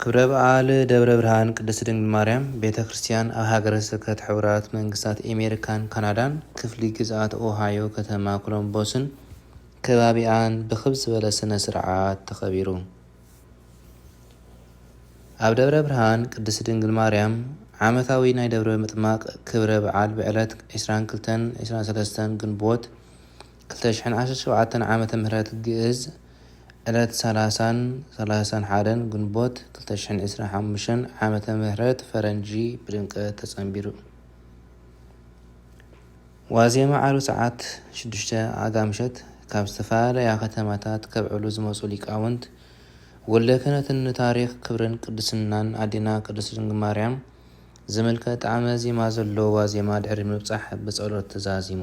ክብረ በዓል ደብረ ብርሃን ቅድስት ድንግል ማርያም ቤተ ክርስቲያን ኣብ ሃገረ ስብከት ሕቡራት መንግስታት ኤሜሪካን ካናዳን ክፍሊ ግዝኣት ኦሃዮ ከተማ ኮሎምቦስን ከባቢኣን ብክብ ዝበለ ስነ ስርዓት ተኸቢሩ። ኣብ ደብረ ብርሃን ቅድስት ድንግል ማርያም ዓመታዊ ናይ ደብረ ምጥማቅ ክብረ በዓል ብዕለት ዕስራን ክልተን ዕስራን ሰለስተን ግንቦት ክልተ ሽሕን ዓሰርተ ሸውዓተን ዓመተ ምህረት ግእዝ ዕለት ሰላሳን ሰላሳን ሓደን ግንቦት ክልተ ሽሕን ዕስራን ሓሙሽተን ዓመተ ምህረት ፈረንጂ ብድምቀት ተጸንቢሩ። ዋዜማ ዓርቢ ሰዓት ሽዱሽተ ኣጋ ምሸት ካብ ዝተፈላለያ ከተማታት ከብዕሉ ዝመጹ ሊቃውንት ወልደ ክህነትን ንታሪኽ ክብርን ቅድስናን ኣዴና ቅድስት ድንግል ማርያም ዝምልከት ጣዕመ ዜማ ዘለዎ ዋዜማ ድሕሪ ምብጻሕ ብጸሎት ተዛዚሙ።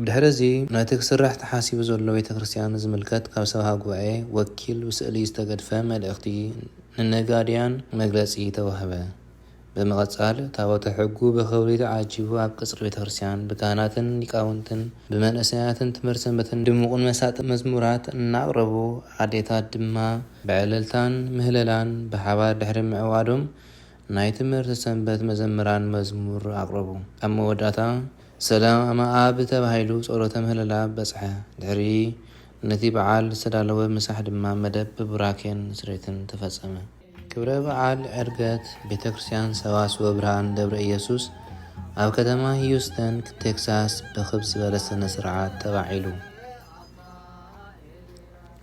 ብድሕሪ እዚ ነቲ ክስራሕ ተሓሲቡ ዘሎ ቤተ ክርስቲያን ዝምልከት ካብ ሰብኻ ጉባኤ ወኪል ብስእሊ ዝተገድፈ መልእኽቲ ንነጋድያን መግለጺ ተዋህበ። ብምቕጻል ታቦተ ሕጉ ብኽብሪ ተዓጂቡ ኣብ ቀጽሪ ቤተ ክርስቲያን ብካህናትን ሊቃውንትን ብመንእሰያትን ትምህርት ሰንበትን ድሙቕን መሳጥን መዝሙራት እናቕረቡ ኣዴታት ድማ ብዕልልታን ምህለላን ብሓባር ድሕሪ ምዕዋዶም ናይ ትምህርቲ ሰንበት መዘምራን መዝሙር ኣቕረቡ። ኣብ መወዳእታ ሰላመ ኣብ ተባሂሉ ጸሎተ ምህለላ በጽሐ። ድሕሪ ነቲ በዓል ዝተዳለወ ምሳሕ ድማ መደብ ብቡራኬን ስሬትን ተፈጸመ። ክብረ በዓል ዕርገት ቤተ ክርስቲያን ሰዋስወ ብርሃን ደብረ ኢየሱስ ኣብ ከተማ ሂዩስተን ቴክሳስ ብክብ ዝበለ ስነ ስርዓት ተባዒሉ።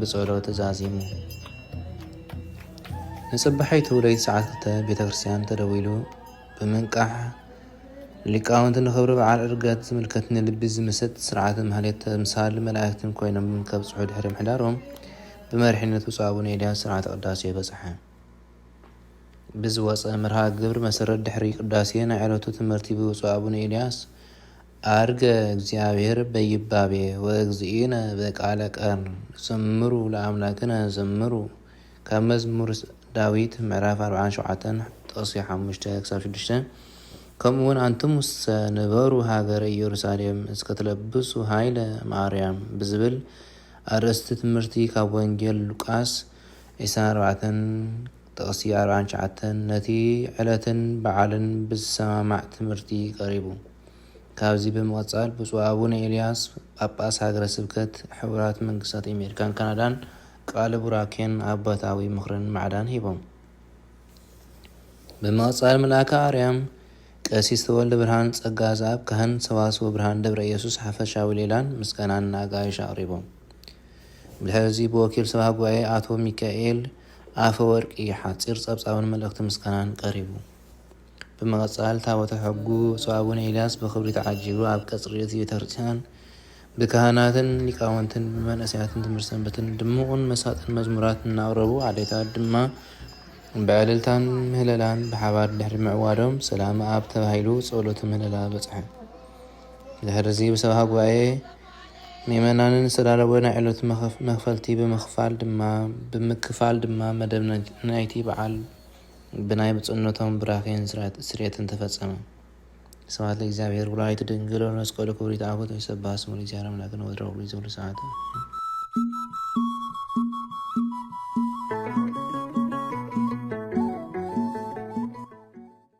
ብጸሎት ዛዚሙ። ንጽባሒቱ ለይቲ ሰዓት ክልተ ቤተ ክርስቲያን ተደዊሉ ብምንቃሕ ሊቃውንቲ ንኽብሪ በዓል ዕርገት ዝምልከት ንልቢ ዝምስጥ ስርዓተ ማህሌት ተምሳል መላእክትን ኮይኖም ከብጽሑ ድሕሪ ምሕዳሮም ብመሪሕነት ብፁዕ ኣቡነ ኤልያስ ስርዓተ ቅዳሴ በጽሐ። ብዝወፀ መርሃ ግብር መሰረት ድሕሪ ቅዳሴ ናይ ዕለቱ ትምህርቲ ብብፁዕ ኣቡነ ኤልያስ ዐርገ እግዚኣብሔር በይባቤ ወእግዚእነ በቃለ ቀርን ዘምሩ ለአምላክነ ዘምሩ ካብ መዝሙር ዳዊት ምዕራፍ አርብዓን ሸውዓተን ጥቅሲ ሓሙሽተ ክሳብ ሽዱሽተ ከምኡውን አንትሙሰ ንበሩ ሃገረ ኢየሩሳሌም እስከ ትለብሱ ኃይለ እምአርያም ብዝብል አርእስቲ ትምህርቲ ካብ ወንጌል ሉቃስ ዒስራን አርባዕተን ጥቅሲ አርብዓን ትሽዓተን ነቲ ዕለትን በዓልን ብዝሰማማዕ ትምህርቲ ቀሪቡ። ካብዚ ብምቕጻል ብፁዕ ኣቡነ ኤልያስ ጳጳስ ሃገረ ስብከት ሕቡራት መንግስታት ኤሜሪካን ካናዳን ቃለ ቡራኬን ኣባታዊ ምኽርን ማዕዳን ሂቦም። ብምቕጻል መልኣከ ኣርያም ቀሲስ ተወልደ ብርሃን ጸጋ ዘኣብ ካህን ሰዋስወ ብርሃን ደብረ ኢየሱስ ሓፈሻዊ ሌላን ምስጋናን ንኣጋይሽ ኣቕሪቦም። ብድሕሪ እዚ ብወኪል ሰብሃ ጉባኤ ኣቶ ሚካኤል ኣፈወርቂ ሓጺር ጸብጻብን መልእኽቲ ምስጋናን ቀሪቡ። ብምቕጻል ታቦተ ሕጉ ብፁዕ ኣቡነ ኤልያስ ብኽብሪ ተዓጂቡ ኣብ ቀጽሪ እቲ ቤተክርስትያን ብካህናትን ሊቃውንትን ብመንእሰያትን ትምህርት ሰንበትን ድሙቕን መሳጥን መዝሙራት እናቕረቡ ኣዴታት ድማ ብዕልልታን ምህለላን ብሓባር ድሕሪ ምዕዋዶም ሰላመ ኣብ ተባሂሉ ጸሎተ ምህለላ በጽሐ። ድሕርዚ ብሰብኻ ጉባኤ ምእመናንን ዝተዳለወ ናይ ዕለቱ መኽፈልቲ ብምክፋል ድማ ብምክፋል ድማ መደብ ናይቲ በዓል ብናይ ብፁዕነቶም ቡራኬን ስርዓት ስርየትን ተፈጸመ። ስብሐት ለእግዚኣብሔር ወለወላዲቱ ድንግል ወለመስቀሉ ክቡር ይትዓቦት ወይሰብሐ ስሙ ለእግዚኣብሔር ኣምላክነ ወትረ ወኩሉ ጊዜ ወኩሉ ሰዓት አሜን።